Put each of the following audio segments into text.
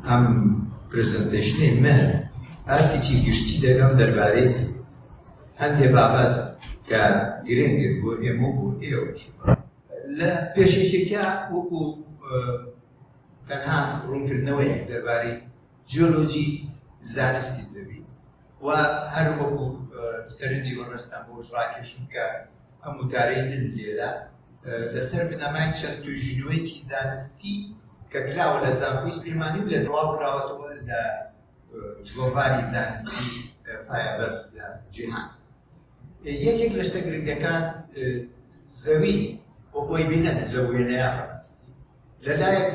ئەم پرزەنتەیشنەی من ئاستێکی گشتی دەگەم دەربارەی هەندێ بابەت کە گرنگن بۆ ئێمە بۆ ئێوەش لە پێشێکێکە وەکو تەنها ڕوونکردنەوەی دەربارەی جیۆلۆجی زانستی زەوی و هەر وەکو سەرنجی وەڕستان بۆ ڕاکێشم کە ئەم وتارەی من لێرە لەسەر بنەمای چەند توژینوەیەکی زانستی کە کراوە لە زانکۆی سلێمانی و لە زەواڵ کراوەتەوە لە گۆڤاری زانستی پایەبەر لە جیهان یەکێک لە شتە گرنگەکان زەوی بۆ بۆی بینەن لە وێنەیە بەڕاستی لە لایەک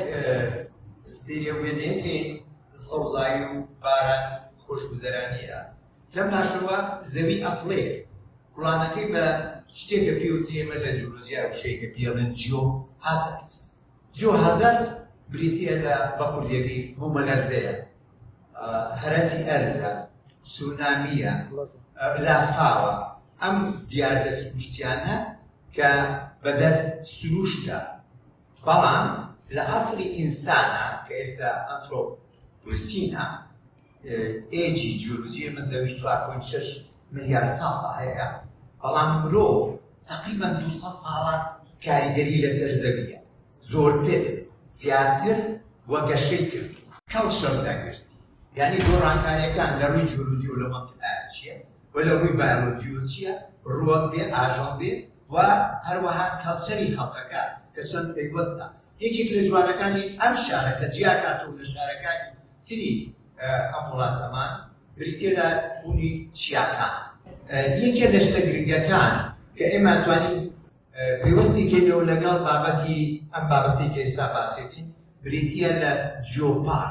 ستێریە وێنەیەکی سەوزایی و باران خۆشگوزەرانیە لەم ناشەوە زەوی ئەپڵێ کوڵانەکەی بە شتێکە پێوتی ئێمە لە جیۆلۆژیا وشەیەکە پێڵێن جیۆ هازارد جیۆ هازارد بریتە لە بە کوردیەکەی بوومەلەرزەیە هەرەسی ئەرزە سونامیە لافاوە ئەم دیاردە سروشتیانە کە بەدەست سرووشتە، بەڵام لە عەسری ئینسانە کە ئێستا ئەنترۆپوسینە، ئێجی جیۆلۆجی ئێمە زەوی چوار پۆینت شەش ملیار ساڵە هەیە، بەڵام مرۆڤ تەقریبەن دوو سەد ساڵە کاریگەری لەسەر زەوییە، زۆرتر زیاتر و گەشەی کرد. Cultural Diversity یانی گۆڕانکارییەکان لە ڕووی جیۆلۆجی و لە مەنتیقایا چییە؟ و لە ڕووی بایۆلۆجی و چییە ڕووەک بێ ئاژەڵ بێ و هەروەها کەڵچەری خەڵکەکە کە چۆن پەیوەستە یەکێک لە جوانەکانی ئەم شارە کە جیاکات و لە شارەکانی تری ئەم وڵاتەمان بریتێ لە بوونی چیاکە یەکێ لە شتە گرنگەکان کە ئێمە توانین پەیوەستی کەینەوە لەگەڵ بابەتی ئەم بابەتی کە ئێستا باسێکین بریتە لە جۆپار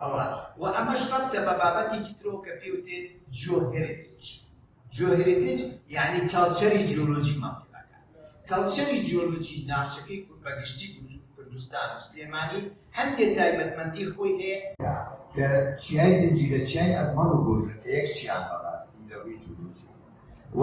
ئەوە و ئەمەش ڕەبتە بە بابەتێکی ترەوە کە پێی وتێ جۆهێرێتیج جۆهێرێتیج یعنی کەڵچەری جیۆلۆجیمان پێداکات کەڵچەری جیۆلۆجی ناوچەکەی کورد بە گشتی کوردستان و سلێمانی هەندێ تایبەتمەندی خۆی هەیە کە چیای زنجیرە چیای ئەزمەڕ و گۆژە کە یەک چیان بەڕاستی لە ڕووی جیۆلۆجی و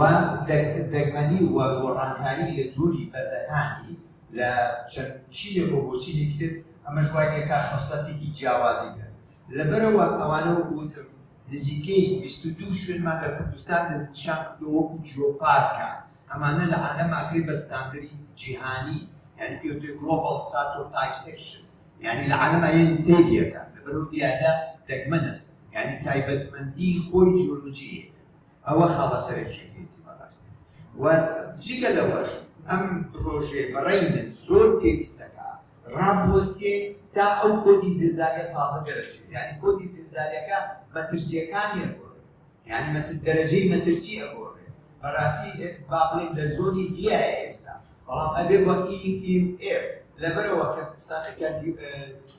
دەگمەنی و گۆڕانکاری لە جۆری فەردەکانی لە چەند چینێک و بۆ چینێکی تر ئەمەش وای لێ کات خەسڵەتێکی جیاوازی بێت لەبەرەوە ئەوانە وەکو وتم نزیکەی بیست و دوو شوێنمان لە کوردستان دەستنیشان کردووە وەکو جیۆپارکە ئەمانە لە عالەم ئاگری بە ستاندەری جیهانی یعنی پێ وترێ گڵۆباڵ ستاتۆ تایپ سێکشن یعنی لە عالەما یەن سەیریەکە لەبەرەوە دیارە دەگمەنەس یعنی تایبەتمەندی خۆی جیۆلۆجییە ئەوە خاڵە سەرەکیەکەیەتی بەڕاستی و جگە لەوەش ئەم پرۆژێ بەڕێی من زۆر پێویستەکە ڕابوەستێ تا ئەو کۆدی زلزالە تازە دەرەچێت یعنی کۆدی زلزالەکە مەترسیەکانی ئەگۆڕێ یعنی مەتر دەرەجەی مەترسی ئەگۆڕێ بەڕاستی با بڵێن لە زۆنی دیایە ئێستا بەڵام ئەبێ وەکی ئیم ئێر لەبەرەوە کە قسانەکە